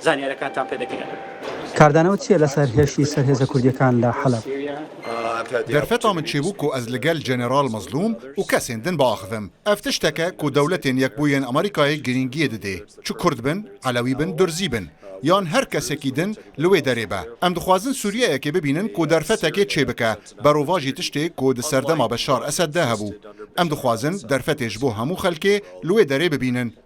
Zanyarekantan pê dikirin. Kardano çi ye li ser heşî ser hêza kurdîyekan li Heleb? Derfeta min çêbû ku ez li gel General Mazlûm û kesên din biaxivim. Ev tiştek e ku dewletên Yekbûyên Amerîkayê girîngiyê didê. Çi kurd bin, elewî bin, durzî bin yan her kesekî din li wê derê be. Em dixwazin Sûriyeyekê bibînin ku derfetekê çêbike berovajî tiştê ku di serdema Beşar Esed de hebû. Em dixwazin derfetê ji bo hemû xelkê li wê derê bibînin.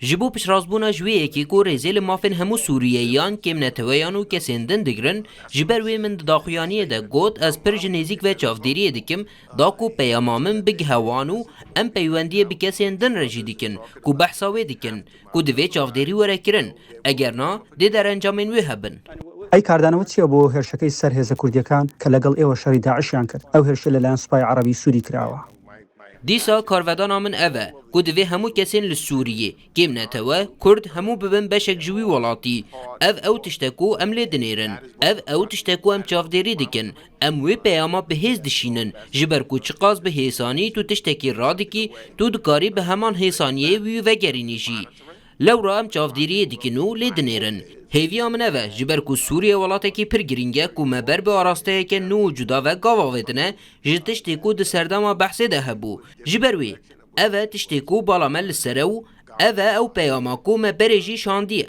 Ji bo piştrazbûna ji wê yekê ku rêzê li mafên hemû Sûriyeyiyan, kêmneteweyan û kesên din digirin, ji ber wê min di daxuyaniyê de got ez pir ji nêzîk ve çavdêriyê dikim da ku peyama min bigihe wan û em peywendiyê bi kesên din re jî dikin ku behsa wê dikin ku divê çavdêrî were kirin eger na dê derencamên wê hebin. Ey kardanow çi ye bo hêrşekey ser hêza kurdîyekan ke legel êwa şerî DAIŞ yan kir? Ew hêrşê li layan supaya erebî Sûrî kirawa. Dîsa karvedana min ev e ku divê hemû kesên li Sûriyê, kêm netewe, kurd hemû bibin beşek ji wî welatî. Ev ew tişt e ku em lê dinêrin. Ev ew tişt e ku em çavdêrî dikin. Em wê peyama bi hêz dişînin, ji ber ku çiqas bi hêsanî tu tiştekî radikî, tu dikarî bi heman hêsaniyê wî vegerînî jî. Lewra em çavdêriyê dikin û lê dinêrin. Hêviya min ev e, ji ber ku Sûriye welatekî pir girîng e ku me ber bi arasteyeke nû û cuda ve gav avêtine ji tiştê ku di serdema behsê de hebû. Ji ber wî ev e tiştê ku bala me li ser e û ev e ew peyama ku me berê jî şandiye.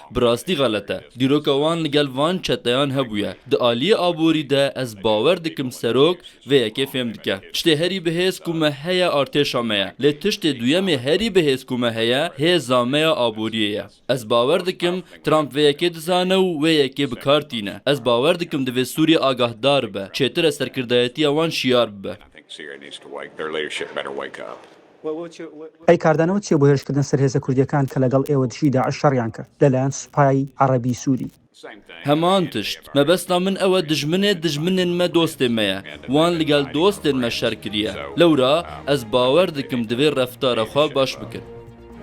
Bi rastî xelet e. Dîroka wan li gel van çeteyan hebûye. Di aliyê aborî de ez bawer dikim serok vê yekê fêm dike. Tiştê herî bi hêz ku me heye artêşa me ye. Lê tiştê duyemê herî bi hêz ku me heye hêza me ya aboriyê ye. Ez bawer dikim Trump vê yekê dizane û wê yekê bi kar tîne. Ez bawer dikim divê Sûrîye agahdar be. Çêtir e serkirdayetiya wan şiyar bibe. Ey kardane û çêbûhêrişkirdin ser hêza kurdîyekan ke legal êwa dijî DAIŞ şerîyan kir le layan supayayî erebî sûrî. Heman tişt. Mebesta min ew e dijminê dijminên me dostê me ye. Wan li gel dostên me şer kirîye. Lewra ez bawer dikim divê reftara xwe baş bikin.